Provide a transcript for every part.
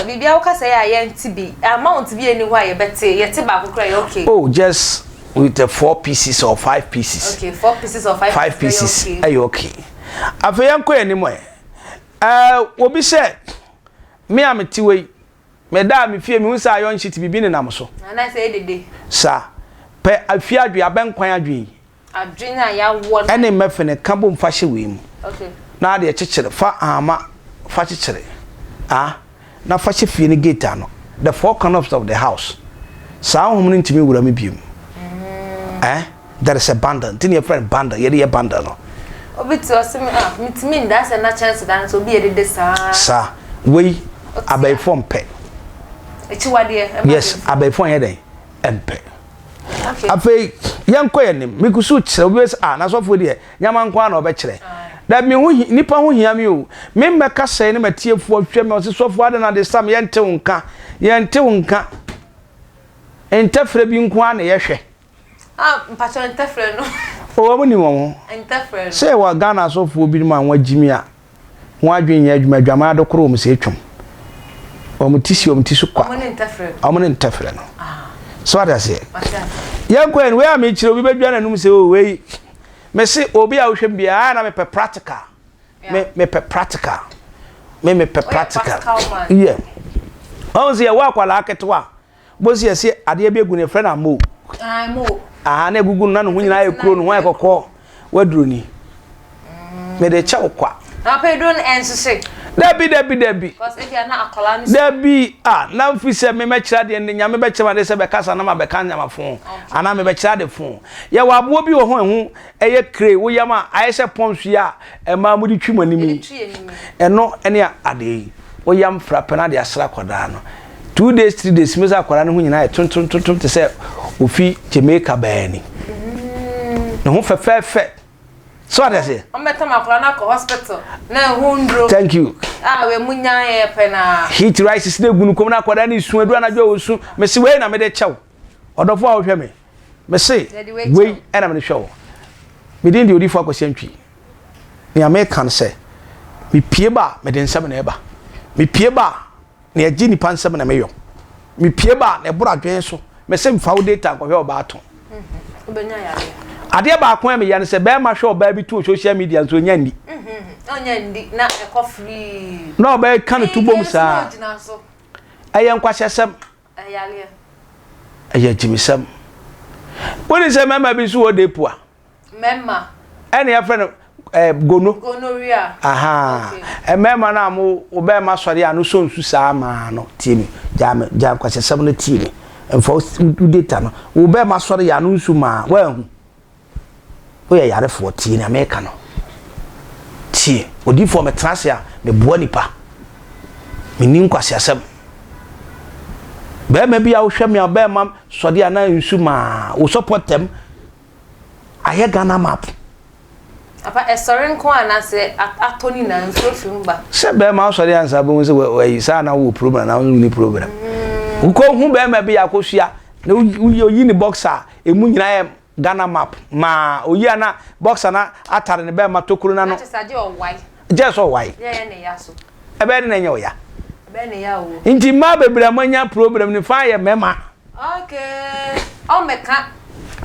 biribi a wokasa yɛ a yɛnte bi amount bi ani hɔ a yɛbɛte yɛte baako kora yɛ okay oh just with the four pieces or five pieces okay four pieces or five, five pieces ɛyɛ okay afei yɛnkɔ yɛn anim ɛ ɛɛ obi sɛ me a mete wei Meda a mifie mihu sɛ ayɔnkye te biribi nenam so. Ana sɛ dede. Sa. Pɛ afie adwene, abɛn kwan adwene yi. Adwene a yɛawɔ no. Ɛne mmɛfene ka bom fa hyɛ wei mu. Okay. Na adeɛ kyekyere, fa ahama fa kyekyere. Ah, na fa hyɛ fie no gate ano. The four corners of the house. Saa honhom no ntumi nwura mu biom. Eh. That is a bundle. Nti na yɛfrɛ no bundle. Yɛde yɛ bundle no. Obi te ɔse me ah metumi nda sɛ na kyɛnse da no so obi yɛ dede saa. Sa. Wei abɛɛfoɔ mpɛ. Akyiwadeɛ ɛma. Yes abɛɛfoɔ nyɛ dɛn ɛmpɛ. Okay. Afei yɛnkɔ yɛn nim me kusu kyerɛ obi sɛ ah n'asɔfoɔ deɛ nyama nko ara na ɔbɛkyerɛ. That me ho nipa ho hia me o. Me mmɛka sɛn ne matiefoɔ hwɛ me ɔse sɔfoɔ adɛn na de sam yɛntew nka yɛntew nka ntɛfrɛ bi nko ara na yɛhwɛ. Ah mpakyɛw ntɛfrɛ no. Oh ɔmo nim wɔn ho. Ntɛfrɛ no. Sɛ wɔ Ghana asɔfoɔ binom a wɔn gyimi a wɔn adwene nyɛ adwuma adwaman adokoro wɔn sɛ atwam. Wɔn ti si wɔn ti so kwa. Ɔmo ne ntɛfrɛ no. Ɔmo ne ntɛfrɛ no. Ah. So ate aseɛ. Mate aseɛ. Yɛn kɔ yɛn wei a mekyerɛ obi bɛdwa n'anum sɛ oh wei me se obi a wohwɛ mu biara ah na mepɛ practical. Me mepɛ practical. Me mepɛ practical. Oyɛ practical man. Yeah. Ɔmo sɛ yɛwɔ akwadaa ketewa bosi ɛsi adeɛ bi egu ne fɛ na mo aha na egugu no na ne ho nyinaa yɛ kuro ne ho ayɛ kɔkɔɔ waduro ni mɛ de kyɛw kwa. na pɛ duro no ɛnsese. dabi dabi dabi. kɔs ebi a na akɔla no. dabi a na nfi sɛ mi mɛ kyerɛ adeɛ ne nyame bɛ kyerɛ ma de sɛ bɛ kasa na ma bɛ ka nyama fo anaa mɛ bɛ kyerɛ ade fo yɛ wɔ aboɔ bi wɔ ho ɛho. ɛyɛ kire, wo yam a ayɛ sɛ pɔnhwe a mmaa mode twi mo anim yi, ɛno ne adeɛ yi. Wo yam fra pɛ no ade asra akwadaa no. Two days, three days, wobɛhu sɛ akwadaa no ho nyinaa yɛ tontontontom te sɛ ofi Jamaica baa ni. Mm. Ne ho fɛfɛɛfɛ. So ade aseɛ? Ɔmbɛtam akwadaa no akɔ hospital na ɛho nduro. Thank you. Ah, wei mu nyaa yɛ pɛ na. Heat rises na egunu kɔm na akwadaa no esu edu anadwo a osu. Mesi wei na mede kyɛw. Ɔdɔfo a wohwɛ me. Mese, Wei na mede hwɛ wo. Me din de Odiyifoɔ Akwasi Antwi. Nea meka ne sɛ, mepue ba a, mede nsɛm na ɛba. Mepue ba a, nea ɛgye nnipa nsɛm na meyɔ. Mepue ba a, na ɛboro adwene so. Mese, Mfa wo data nkɔhwɛ ɔbaa to. Adeɛ baako a meyɛ ne sɛ, barima hwɛ ɔbaa bi to wɔ social media nso, ɔnya nni. Na ɔbaa yi ka ne to bom saa. Ɛyɛ nkwaseasɛm. Ayareɛ. Ɛyɛ agyimisɛm. Wonim sɛ mmarima bi nso wɔ deepu a. Mmarima. Ɛne yɛfrɛ no eh, gono. Gonorrhea. Aha. Okay. Mmarima no a mo ɔbarima sɔre a no sɔ nsu saa maa no. Tie me. Gyaa me. Gyaa nkwasasɛm no tie me. Mfa wo data no. Wo barima sɔre a no nsu maa. Woahu. Woyɛ yarefoɔ, tie nea meka no. Tie, odiyifoɔ, metena ase a, meboa nnipa. Menni nkwaseasɛm. Bɛrima bi a wohwɛ me a bɛrima sɔde a na nsu maa wo sɔpɔ tɛm ayɛ Ghana map. Apa ɛsɔre nko a na sɛ atɔ ne nyinaa nsuo fi mu ba. Sɛ bɛrima asɔre ansa bɛhu sɛ wayi saa na wowɔ problem na wonni problem. Mm. Wokɔhu bɛrima bi a akɔsua na woyi ne box a ɛmu nyinaa Ghana map maa oyi a na boxer no atare ne bɛrima tokuro no ano. Gyɛ sɛ ɔwae. Ɛbɛyɛ dɛ na ɛnyɛ ɔya. Nti mmaa bebree a moanya problem no fa yɛ mmarima.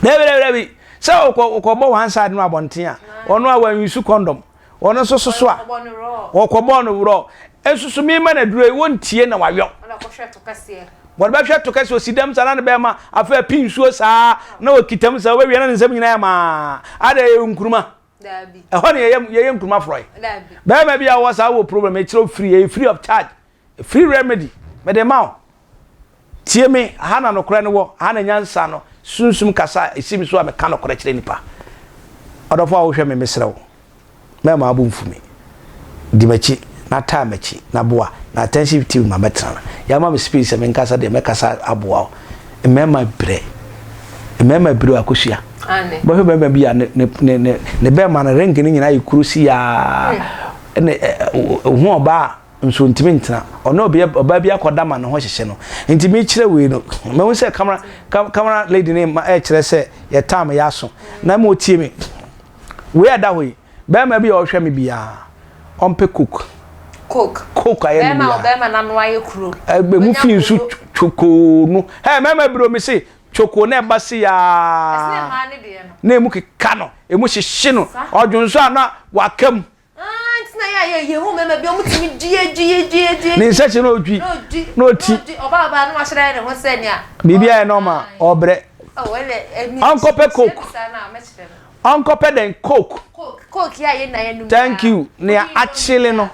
Dabi dabi dabi sɛ wokɔbɔ one side no abɔnten a ɔno a wanuse condom. Ɔno nso soso a. Wɔkɔbɔɔ no worɔ. Nsusu mi ma na duro yi wɔntie na wayɔ. Ɔna kɔhwɛ to kɛseɛ. Wɔde bɛhwɛ to kɛseɛ osi dɛm saa na ne bɛrima afei api nsuo saa na wɔkita mu saa wɔbɛwie na ne nsam nyinaa yɛ maa. Ada yɛ nkuruma. Daabi. Ɛhɔ ne yɛyɛ yɛyɛ nkuruma forɔe. Daabi. Bɛrima bi a ɔwɔ saa wɔ problem ɛkyerɛ free ɛyɛ free of charge. Free remedy mede rema wo. Tie me, ha na nokorɛ no wɔ, ha na nyansa no sunsum kasa a ɛsi me so a meka nokorɛ kyerɛ nnipa. Ɔdɔfoɔ a wohwɛ me, mesrɛ wo, mɛmma wo bo mfu me. Di m'akyi na taa m'akyi na boa na attentive team ma mɛtena. Yɛama me space sɛ menkasa deɛ, mɛkasa aboa wo. Mmarima brɛ. Mmarima abiri o, akosua. Wobɛhwɛ barima bi a ne, ne, ne, ne, ne bɛrima no ring no nyinaa yɛ kuro si aa, ne, eh, eh, ohun ɔbaa a, nso ntumi ntena ɔne ɔbea ɔbaa bi akɔda ma ne ho hyehye no nti mekyerɛ wei no mehu sɛ camera camera lady ne ma ɛkyerɛ sɛ yɛ time yɛ aso na ma otie me wei ada hɔ yi bɛrima bi a ɔhwɛ me biara ɔmpɛ coke coke coke ayɛ ne biara bɛrima nano ayɛ kuro ɛgbɛ mu fi nsu chokoo no ɛ mɛma biro me se chokoo na ɛba se yaa na emu keka no emu hyehye no ɔdwonso a na wakam ne nsa kyɛ na ɔtwi na ɔti biribi ayɛ nɔma ɔbrɛ ɔnkɔpɛ coke ɔnkɔpɛ dɛn coke thank you nea akyele no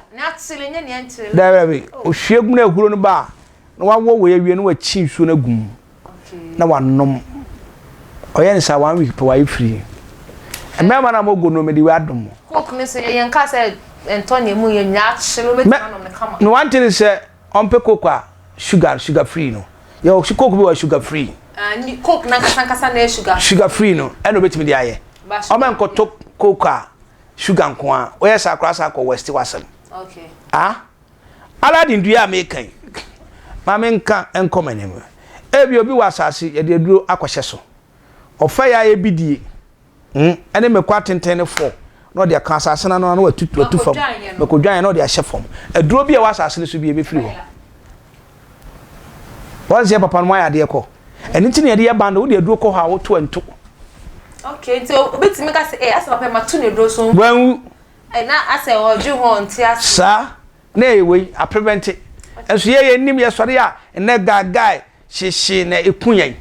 daabi ohwie gu na ehuro no ba a na wawɔ wɔ awie na wakyi nsuo no agu mu. na wanom. Ɔyɛ no saa one week pɛ wayɛ free. Mmarima no a wɔgu no mede wei adom mo. Hope ne so yɛn kaa sɛ ɛntɔ nea mu yɛ nyinaa akyere wo bɛtumi anom no kama. No one thing is sɛ ɔmpɛ coke a sugar sugar free no yɛ wɔ coke bi wɔ sugar free. Ah ni coke na nkasa nkasa na yɛ sugar free. Sugar free no ɛna obɛtumi de ayɛ. Ɔmɛ nkɔtɔ coke a sugar nko a woyɛ saa koraa saa kɔ west wasɛm. Okay. Ah. Aladdin dua a meka yi, ma menka nkɔ m'anim. Ebia obi wɔ asase yɛde aduro akɔhyɛ so. Ɔfa yi a ɛyɛ bidie hmm, ne mako atenten ne fɔɔ na ɔde aka asase no ano na watu watu fam. Mako dwan na ɔde ahyɛ fam. Aduro bi a ɛwɔ asase no so bi ɛbɛfiri hɔ. Wɔn sɛ papa no mu ayɛ adeɛ kɔ. Ɛno nti na yɛde yɛ bando wode aduro kɔ hɔ a woto nto. Okay, nti obetumi ka sɛ, eh, asɛ papa ma to ne aduro so. Wɔn Na asɛ ɔdwe ho a ɔnte ase. Saa na ɛyɛ wei a prevente nso yɛ yɛn nim yɛsɔre a nnɛ gagae hyehye na eku yɛn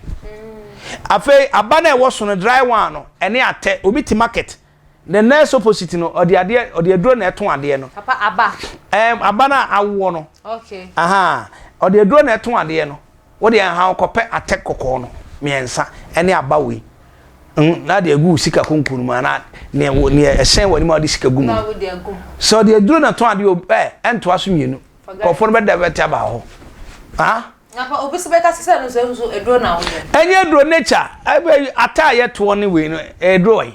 afei aba no a ɛwɔ so no dry one no ɛne atɛ obi te market the nurse opposite no ɔde adeɛ ɔde aduro na ɛto adeɛ no Papa aba. ɛɛm aba no a awoɔ no Okay. ahaa ɔde aduro na ɛto adeɛ no. Wo deɛ nhaw kɔpɛ atɛk kɔkɔɔ no mmiɛnsa ne aba wei mm na de agu wo sika konko no mu anaa neɛ wo neɛ ɛhyɛn w'anim a wode sika gu mu no. Sɛ ɔde aduro na tɔn adeɛ o ɛ ɛntoa so mmienu nkurɔfoɔ no bɛdɛvɛte aba hɔ ha. Napa obi so bɛka sɛ no sɛ nso aduro na wode. Ɛnyɛ aduro nature ɛbɛ ataaeɛ toɔ ne wei no ɛduro ɔyi.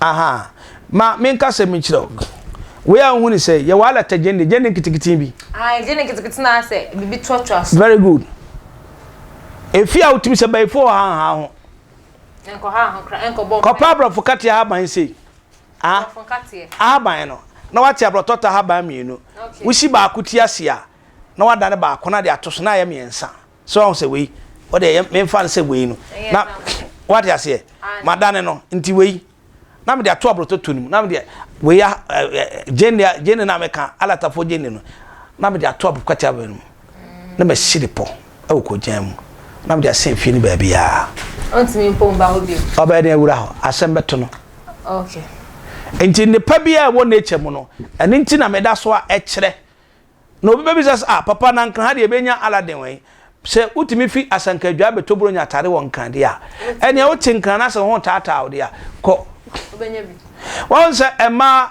Aha, ma menka asɛm bi nkyerɛ wo. Wei a wohu no sɛ, yɛwɔ alɛtɛ gyende, gyende nketekete bi. Ae, gyende nketekete na ayɛ sɛ biribi toatoa so. Very good. Efi a wotumi sɛ bayifo wɔ ha nhaa ho. Nkɔ ha ho koraa, nkɔ bɔ mpae. Kɔpɛ aborɔfo kateɛ ahaban sei. Ah, aborɔfo nkateɛ. Ahaban no, na wate aborɔtɔtɔ ahaban mmienu. Okay. Wosi baako ti ase a, na wadane baako na de ato so, na ayɛ mmiɛnsa. So wahu sɛ wei ɔde ɛyɛ memfa no sɛ wei no na wate aseɛ madane no nti wei na mede ato aborototo no mu na mede wei gyene eh, eh, gyene eh, no a meka alatafoɔ gyene no na mede ato aborokwati abɛ no mu na masi de pɔ ɛwɔ kɔgyan mu na mede asɛn fie no baabiaa ɔbɛyɛ ne awura hɔ asɛm bɛto no nti nnepa bi a ɛwɔ nature mu no ɛno nti na meda so a ɛkyerɛ Na obi bɛbisa sɛ, Ah, papa, na Nkran ha deɛ yɛbɛnya Aladdin wɛn? Sɛ wotumi fi Asanka Adwaa bɛtɔ Buronya atade wɔ Nkran deɛ a, ɛnneɛ wote Nkran no ase wo ho retaataa wo deɛ a, kɔ. Woahu sɛ mmaa,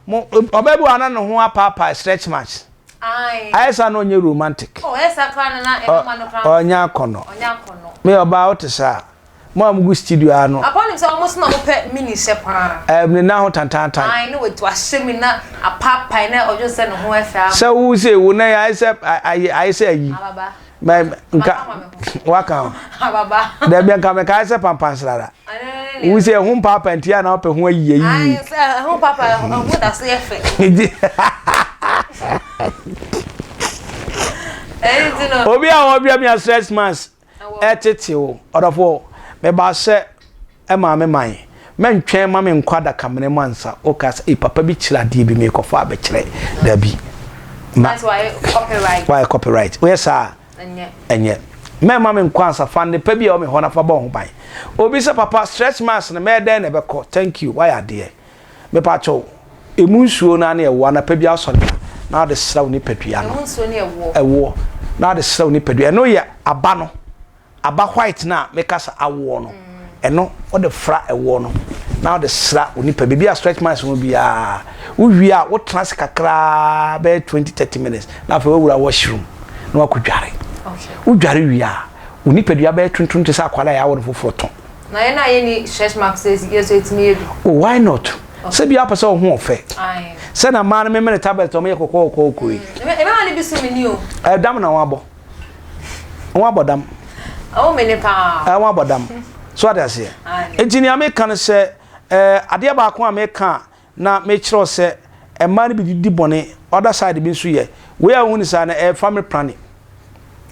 mo, ɔbaa bi wɔ ha na ne ho apaapae, stretch marks. Ayɛ saa na ɔnyɛ romantic. Ɔnyɛ akɔnnɔ. Me, ɔbaa, wote saa a, Mo a mugu studio ha no. Apa nim sɛ wɔn nso na wɔpɛ mini hyɛ paa. Ɛm ne nan ho tantantan. Ae na watu ahyɛ mu na apaapae na ɔdwo sɛ ne ho ɛfɛ ama. Sɛ wo se wo nan ayɛ sɛ ayɛ ayɛ sɛ ayi. Ababa. Mɛ nka waka ho. Ababa. Dɛbi nka mɛ ka ayɛ sɛ pampan srara. Wo se ɛho mpaapae nti a na ɔpɛ ho ayi ayi. Ae sɛ ɛho mpaapae ɛho da so yɛ fɛ. Ɛyi ti no. Obi a wɔbia mi a stress mass. Ɛtete o, ɔdɔfo. Mebaa sɛ ɛmaa me man. Mɛntwɛn mma me nkɔ adakamena mu ansa. Wokaa sɛ, Ei, papa bi kyerɛ adeɛ bi, merekɔfa abɛkyerɛ. Dabi. Ma. Ɛsɛ sɛ woayɛ copyright. Woayɛ copyright. Woyɛ saa a. Ɛnyɛ. Ɛnyɛ. Mɛmma me nkɔ ansa. Fa nnepa bi a ɛwɔ me hɔ na fa bɔ wo ho ban. Obi sɛ, Papa, stretch marks no, mɛyɛ dɛn na ɛbɛkɔ? Thank you. Woayɛ adeɛ. Mepakyɛw, emu nsuo no ara ne ɛwoɔ. Anapa bi asɔre a, na wɔde sra wo nipadua no. Emu nsuo ne ɛwoɔ. Ɛwoɔ. Na wɔde sra wo nipadua. Ɛno yɛ aba no. Aba white no a mekasa awoɔ no. Mm. Ɛno wɔde fra ɛwoɔ no. Na wɔde sra wo nipa. Biribi a stretch marks ho biara. Wowie a, wotena ase kakraa bɛyɛ twenty thirty minutes. Na afei wawura washroom. Na wakɔdware. Okay. Wodware wie a, wo nipadua bɛyɛ tuntum te sɛ akwalaa a yɛawo no foforɔ tɔn. Na yɛn a yɛnni stretch marks yɛ nso yɛtumi yɛ bi. Oh why not? Sɛ bi apɛ sɛ ɔho ɔfɛ. Sɛ na mmaa no memene tablet ɔmo yɛ kɔkɔɔ kɔkɔɔ yi. Ɛbɛma ne bi so mini o. Ɛdam na wɔn abɔ. Wɔn abɔ dam. Ɛwɔ mene paa. Ɛwɔ abɔ dam. So ade aseɛ. Nti nea meka no sɛ ɛɛ adeɛ baako a meka na mekyerɛw sɛ mmaa no bi didi bɔne, other side bi nso yɛ wei a wohu no saa no ɛyɛ family planning.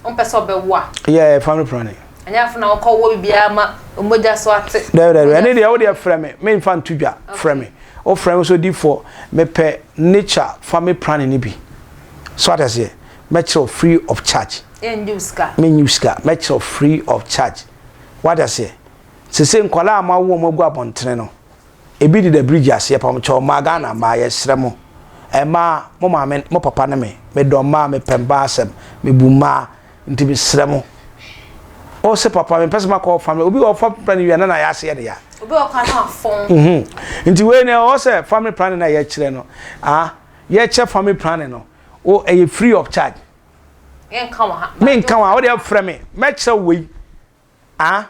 Wompɛ sɛ ɔbɛwo a. Yeah, ɛyɛ family planning. Ɛnyɛ afei na wokɔ wɔ biribiara ma mogya so ate. Daabi daabi, ɛne deɛ wo deɛ frɛ me, memfa nto dwa, frɛ me. Wofrɛ me nso difoɔ, mepɛ nature family planning no bi. So ate aseɛ? Mɛkyerɛ wo free of charge. Yɛnnye wo sika. Mennye wo sika, mɛkyerɛ wo free of charge. Wate aseɛ? Seesei nkwadaa a moawo wɔn agu abɔntene no, Ebi deda bridge aseɛ pam kyɛw mmaa Ghana mmaa yɛsrɛ mo mmaa mo maame mo papa ne me me dɔ mmaa me pɛ mmaa asɛm me bu mmaa nti me srɛ mo o se papa me mpɛ sɛ makɔ ɔfa me obi ɔfa planning wia na na yɛase yɛ ne ya obi ɔka na afɔn mhm nti wei na ɛwɔ sɛ family planning na yɛkyerɛ no ah yɛkyɛ family planning no o ɛyɛ free of charge yɛnka wɔ ha me nka wɔ ha wode afrɛ me mɛkyerɛ wei ah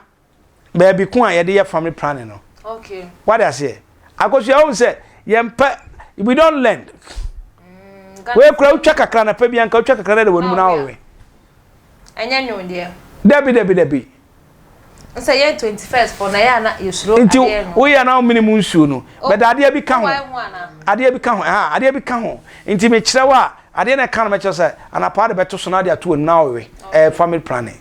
baabi ko a yɛde yɛ family planning no okay wade aseɛ akosua wɔn sɛ yɛn pɛ we don't learn mm, wei kura wotwa kakra na pɛ bi anka wotwa kakra na de wɔn mu na awɔwe ɛnyɛ nwom deɛ dabi dabi dabi sɛ yɛ twenty first fɔ na yɛ ana yɛsuro adeɛ no nti woyɛ na womene mu nsuo no oh, bɛda adeɛ bi ka ho adeɛ bi ka ho ɛha adeɛ bi ka ho nti mekyerɛ wo a adeɛ na ɛka no mɛkyerɛ sɛ anapa de bɛto so na ade ato wɔn mu na awɔwe ɛɛ family planning.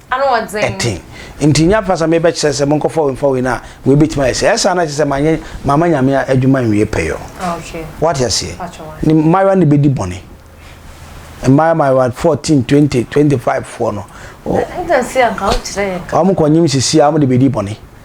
Ano ɔdzen. Tsen. Ntsi nnyɛ afa sa mebɛkyerɛ sɛ monkɔfa wei mfa wei na wei betumi ayɛ sei. Ɛyɛ saa na kyerɛ sɛ mannyɛ mamma Nyame adwuma nnwie pɛyɔ. Okay. Woate aseɛ? Mpakyɛ wate. Ne mmaayewa no bɛdi bɔne. Mmaayewa mmaayewa 14, 20, 25 foɔ no. Ɔ. Ɛnna se anka wokyerɛ yɛn ka. Wɔn kɔ nyim sisi a wɔn de bɛdi bɔne.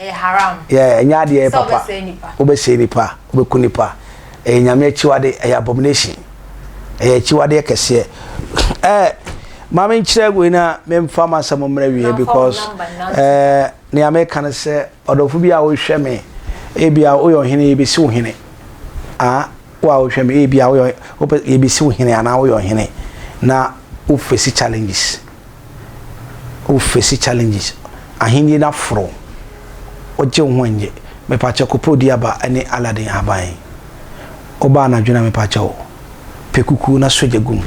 Ɛyɛ haram. Yeah, ɛnyɛ adeɛ ɛyɛ papa. Sɛ wobɛsɛe nipa. Wobɛsɛe nipa, wobɛku nipa. Ɛyɛ Nyame akyiwade, ɛyɛ abomination. Ɛyɛ akyiwadeɛ kɛseɛ. Eh, ma me nkyerɛ wei na me mfa ma sɛ mo mmerɛ wie because eh, nea me ka no sɛ ɔdɔfo bi a wohwɛ me, ebi a woyɛ ɔhene yɛ bɛsi wo hene. Ah, wo a wohwɛ me, ebi a woyɛ, wopɛ, yɛ bɛsi wo hene anaa woyɛ ɔhene na wofesi challenges. wo face challenges ahenni no aforo wo wogye wo ho nnye mepakyɛ kopɔ di aba ne Aladdin ahaban yi woba anadwo na mepakyɛ wo pɛ kuku na sogya gum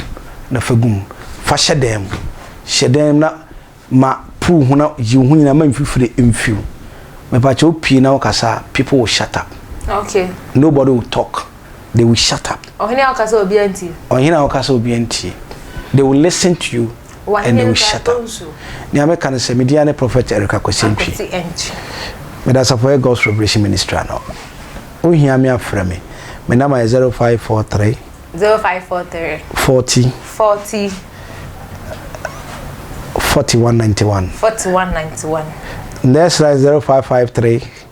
na fa gum fa hyɛ dan mu hyɛ dan mu na ma puu ho na yi wo ho nyina ma mfifire mfiw mepakyɛ wo pii na wo kasa people will shut up okay nobody will talk they will shut up. Ɔhene a ɔka sɛ obiara ntie. Ɔhene a ɔka sɛ obiara ntie. They will listen to you and they will shut up. Nea meka no sɛ me din ne Prophet Eric Akwasi Antwi. Meda Asafo yɛ God's Revelation Ministry ano. Wohia me afrɛ me. Me namba yɛ 0543 0543 40 40 4191 4191 Nurse line 0553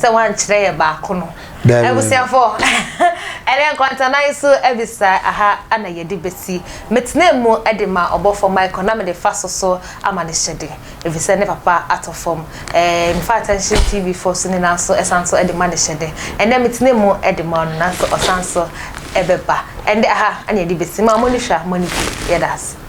sɛ wankyerɛ yɛ baako no abusuafo ɛne nkwantanae so abisa aha ana yɛde besi metena mu de ma ɔbɔfo Michael na mede fa so so ama ne hyɛde efisɛ ne papa atɔ fam ɛɛ mefa attention tv fo so nyinaa so ɛsan so de ma ne hyɛde ɛnɛ metena mu de ma ɔno nanso ɔsan so ɛbɛba ɛnde aha ana yɛde besi ma mo ne hwa mo ne yɛda ase